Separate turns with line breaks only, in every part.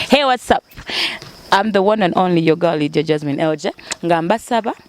Hey, what's up? I'm the one and only your girl Lydia Jasmine Elje nga mbasaba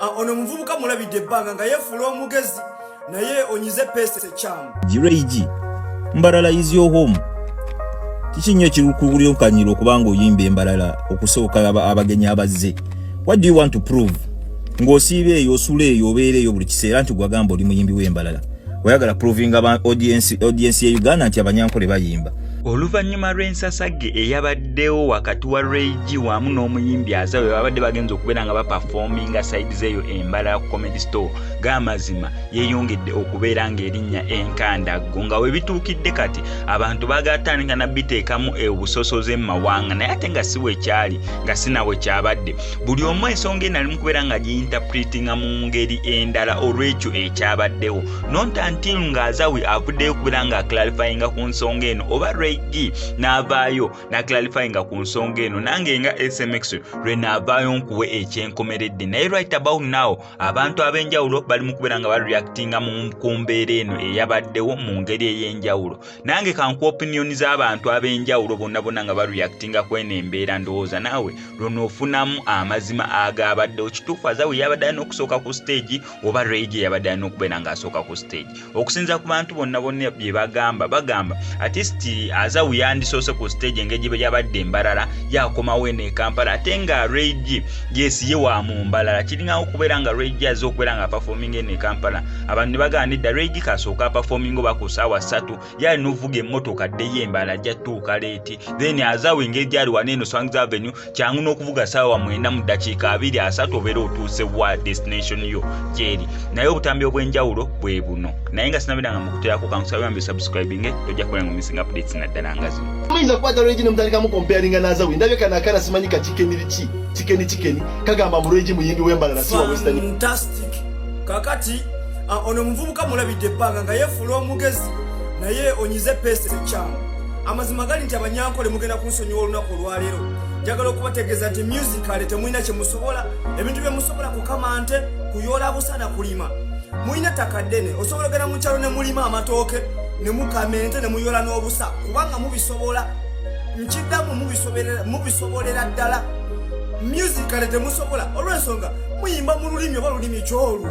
Ah, ono omuvubuka mulabidde ebbanga nga yefuula omugezi naye onyize peesa ekyamu giraigi
mbalala is your home kiki nnyo ekikulyokanyira okuba nga oyimba embalala okusooka abagenyi abazze what do you want to prove ng'osiiba eyo osula eyo obeera eyo buli kiseera nti gwagamba oli muyimbi w'embalala oyagala provinga audiensi ya uganda nti abanyankole bayimba oluvannyuma
lw'ensasagge eyabaddewo wakati wa reg wamu n'omuyimbi aza we babadde bagenza okubeera nga bapafominga saidi zeeyo embala ya comedy store g'amazima yeeyongedde okubeera ng'erinnya enkandaggo nga we bituukidde kati abantu bagatandika na biteekamu obusosoze mu mawanga naye ate nga si wekyali nga sinawe kyabadde buli omu ensonga enali mu kubeera nga giyintapulitinga mu ngeri endala olw'ekyo ekyabaddewo not until nga azawi avuddeyo kubeera nga aclarifyinga ku nsonga eno oba reg n'avaayo naclarifyinga ku nsonga eno nange nga smx lwe naavaayo nkuwe ekyenkomeredde naye right about now abantu ab'enjawulo bali mu kubeera nga bareactinga ku mbeera eno eyabaddewo mu ngeri ey'enjawulo nange kanku opiniyoni z'abantu ab'enjawulo bonna bonna nga bareactinga ku eno embeera ndowooza naawe lwonoofunamu amazima agaabaddewo kituufu azawi yabadde alina okusooka ku stage oba ray gye yabadde alina okubeera ng'asooka ku stage okusinza ku bantu bonna bonna bye bagamba bagamba atist azawu yandisoose ku stage engeri gye yabadde embalala yakomawo eno ekampala ate nga ray g yes ye wa mu mbalala kiringawo okubeera nga ray g azze okubeera nga apafominga eno ekampala abantu ne bagaana edda ray g kasooka apafominga oba ku saawa ssatu gyali novuga emmotoka ddeyo embala ajja tuuka leeti then azawo engeri gyali wana eno swangz avenue kyangu n'okuvuga saawa mwenda mu ddakiika abiri asatu obeera otuuse wa destination yo gyeri naye obutambi obw'enjawulo bwe buno naye nga sinabera nga mukuterako kankusaba yambe subscribinge tojja kubera nga missing updates naddala nga zino muyinza kukwata lwegi nemutandikamu
comparinga n'azawe ndabye kana akana simanyi kakikeni liki kikeni kikeni kagamba mu lwegi muyimbi w'embala nasiwa western
kakati Ah, ono omuvubuka mulabidde ebbanga nga yefuula omugezi naye onyize peesa ekyamu amazima gali nti abanyankole mugenda kunsonyiwa olunaku olwaleero njagala okubategeeza nti musicale temulina kyemusobola ebintu byemusobola kukama nte kuyoola busana kulima mulina ttaka ddene osobola ogenda mu kyalo ne mulima amatooke ne mukama ente ne muyoola n'obusa kubanga mubisobola nkiddamu mubisobolera ddala musicale temusobola olw'ensonga muyimba mu lulimi oba lulimi kyolwo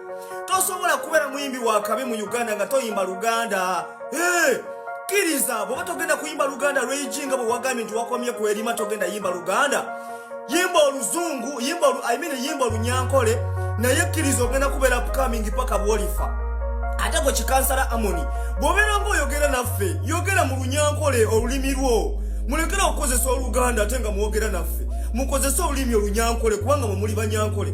tosobola kubeera muyimbi wakabi mu uganda nga toyimba luganda kkiriza bwoba togenda kuyimba luganda lweiji nga bwewagambye nti wakomye kwerima togenda yimba luganda yimba oluzungu imean yimba olunyankole naye kkiriza ogenda kubeera upcoming paka bwolifa ate gwe kikansala amoni bwobeera nga oyogera naffe yogera mu lunyankole olulimi lwo mulekera okukozesa oluganda ate nga mwogera naffe mukozese olulimi olunyankole kubanga mwemuli banyankole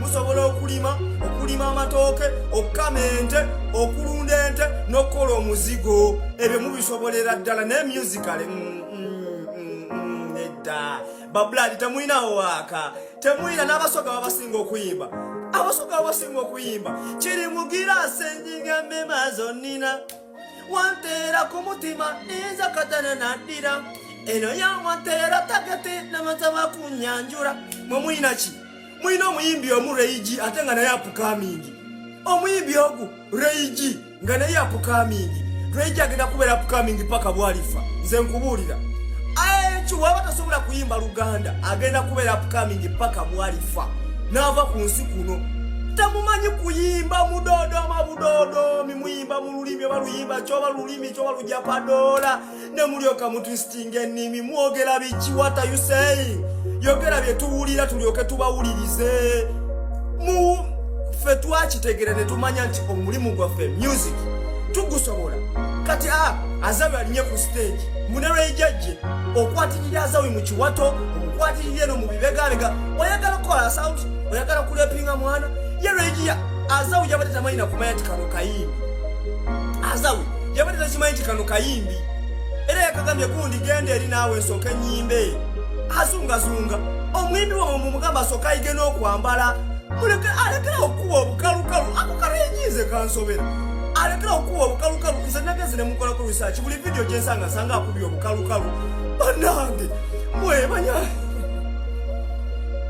musobola okulima okulima amatooke okukama ente okulunda ente n'okukola omuzigo ebyo mubisobolera ddala naye musicale mm, mm, mm, nedda babuladi temulinawo waaka temulina n'abasoga babasinga okuyimba abasoga babasinga okuyimba kiri mugira asenjinga mema zonnina wanteera ku mutima ninza katana naddira eno yawanteera tagete namataba kunyanjula mwe mulina ki mulina omuyimbi omu reigi ate nga naye apukamingi omuyimbi ogu reigi nga naye apukamingi reigi agenda kubeera apukamingi paka bwalifa nze nkubuulira kiwaba tasobola kuyimba luganda agenda kubeera apukamingi paka bwalifa naava ku nsi kuno temumanyi kuyimba mudodoma budodoomi muyimba mu lulimi oba luyimba kyoba lulimi kyoba lujja padoola ne mulyoka mutwisitinga ennimi mwogera biki what are you saying yogera bye tuwulira tulyoke tubawulirize mu ffe twakitegera ne tumanya nti omulimu gwaffe music tugusobola kati a ah, azawi alinye ku stage munelweijajje okwatirira azawi mu kiwato okwatirira eno mu bibegabega oyagala kukola sound oyagala kulepinga mwana ye lwejiya azawi yabadde tamanyi nakumanya nti kano kayimbi azawi yabadde takimanyi nti kano kayimbi era yakagambye gundi genda eri naawe nsooka enyimbe azungazunga omuyimbi wamwe mumugamba asooka ayige n'okwambala muleke alekera okukuba obukalukalu ako kano enyiize kansobera alekera okukuba obukalukalu nze nagezi ne mukolako risaaki buli vidiyo gyensanga nsanga akubye obukalukalu banange mwebanya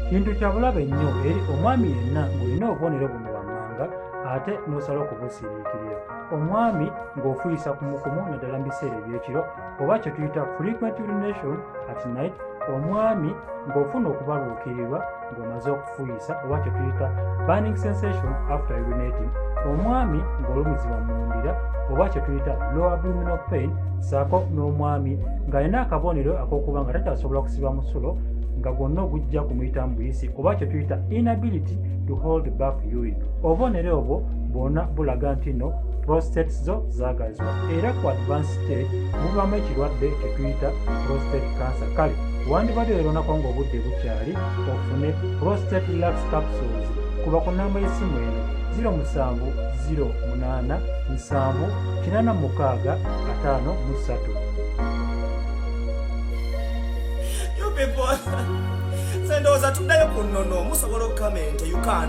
kintu kyabulabe nnyo eri omwami yenna ng'olina obubonero buno wammanga ate n'osala okubusiriikirira omwami ng'ofuyisa kumukumu naddala mu biseera ebyekiro oba kye tuyita frequent urination at night omwami ng'ofuna okubaluukirirwa ng'omaze okufuyisa oba kye tuyita burning sensation after urinating omwami ng'olumizibwa mu ndira oba kye tuyita low abdominal pain saako n'omwami ng'alina akabonero ak'okuba nga takyasobola kusiba musulo nga gwonna ogujja kumuyitamu buyisi oba kye tuyita inability to hold back urine obubonero obwo bwona bulaga nti no prostates zo zagazibwa era ku advance state muvamu ekirwadde kyetuyita prostate cancer kale wandibadde leronako nga obudde bukyali ofune prostate relax capsules kuba ku namba y'essimu eno 0787 people sendowooza
tuddayo ku nnono musobola okukamenta ukan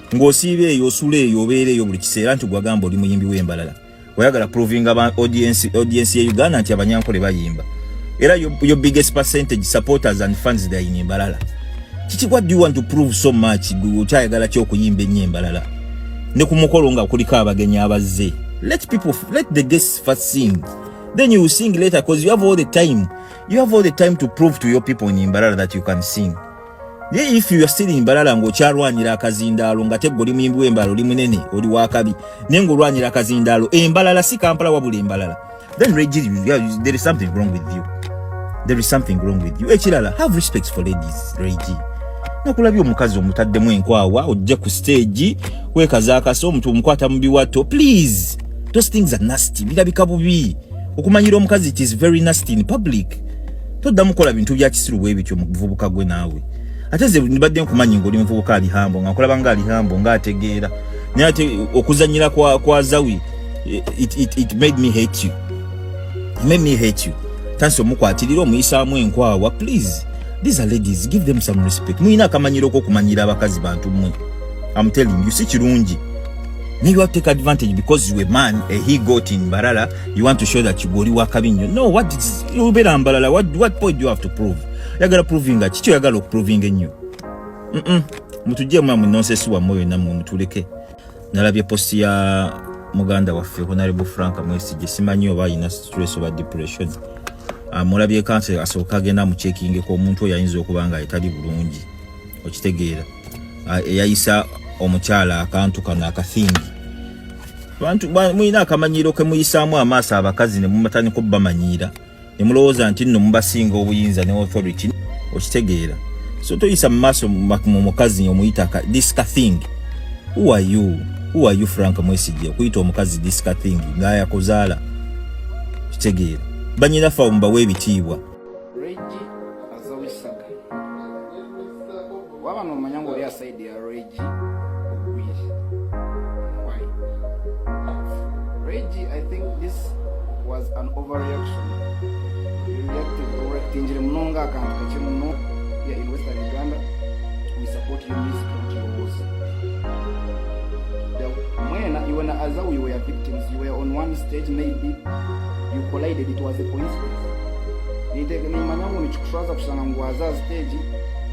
ng'osiiba eyo osula eyo obeera eyo buli kiseera nti gwagamba oli muyimbi w'embalala oyagala provinga ba audience audience ye Uganda nti abanyankole bayimba era your, your biggest percentage supporters and fans they in Mbalala kiki what do you want to prove so much ukyayagala kyo kuyimba ennyo embalala ne ku mukolo nga kuliko abagenyi abazze let people let the guests first sing then you sing later because you have all the time you have all the time to prove to your people in Mbalala that you can sing naye if you are still in balala ng'okyalwanyira akazindaalo nga teggo oli muyimbi w'embalala oli munene oli wakabi naye ng'olwanyira akazindaalo embalala si kampala wabula embalala then regiri there is something wrong with you there is something wrong with you ekirala have respect for ladies regi nakulabye omukazi omutaddemu enkwawa ojje ku stage wekazaakasa omuntu omukwata mu biwato please those things are nasty birabika bubi okumanyira omukazi it is very nasty in public toddamu kukola bintu bya kisiru bwe bityo mu buvubuka gwe naawe ate ze nibadde nkumanyi ng'oli muvubuka ali hambo nga nkulaba nga ali hambo nga ategeera naye ate okuzanyira kwa, kwa zawi it, it, it made me hate you it made me hate you tansi omukwatirira omuyisaamu enkwawa please these are ladies give them some respect muyina akamanyiro okokumanyira abakazi bantu mwe am telling you si kirungi naye you have take advantage because you a man a he got in barala you want to show that you oli wakabi nnyo no what is obeera mbalala what, what point do you have to prove yagala provinga kiki oyagala okuprovinga ennyo mm -mm. mutujje mwamu nonsesi wammwe yonna mwe mutuleke nalabye posti ya muganda waffe honarable frank mwesije simanyi oba alina stress oba depression ah, mulabye kanse asooka agenda mukyekingeko omuntu oyo ayinza okuba nga etali bulungi okitegeera ah, eyayisa omukyala akantu kano akathingi bantu mulina akamanyiiro ke muyisaamu amaaso abakazi ne mumatandika obubamanyiira ne mulowooza nti nno mubasinga obuyinza ne authority okitegeera so toyisa mu maaso mu mukazi omuyita this ka thing who are you who are you frank mwesigye okuyita omukazi this ka thing ng'ayakuzaala okitegeera banyina fa omubawa ebitiibwa
waba nomanya nga oli asaidi ya regi ogwiri why regi i think this was an overreaction you reacted overactingire muno nga akantu kake muno ya in western uganda we support you music mutyobozi mwena iwe na aza we were victims you were on one stage maybe you collided it was a coincidence nitegeneimanya ngo nikikushwaza kushanga ngwaza stage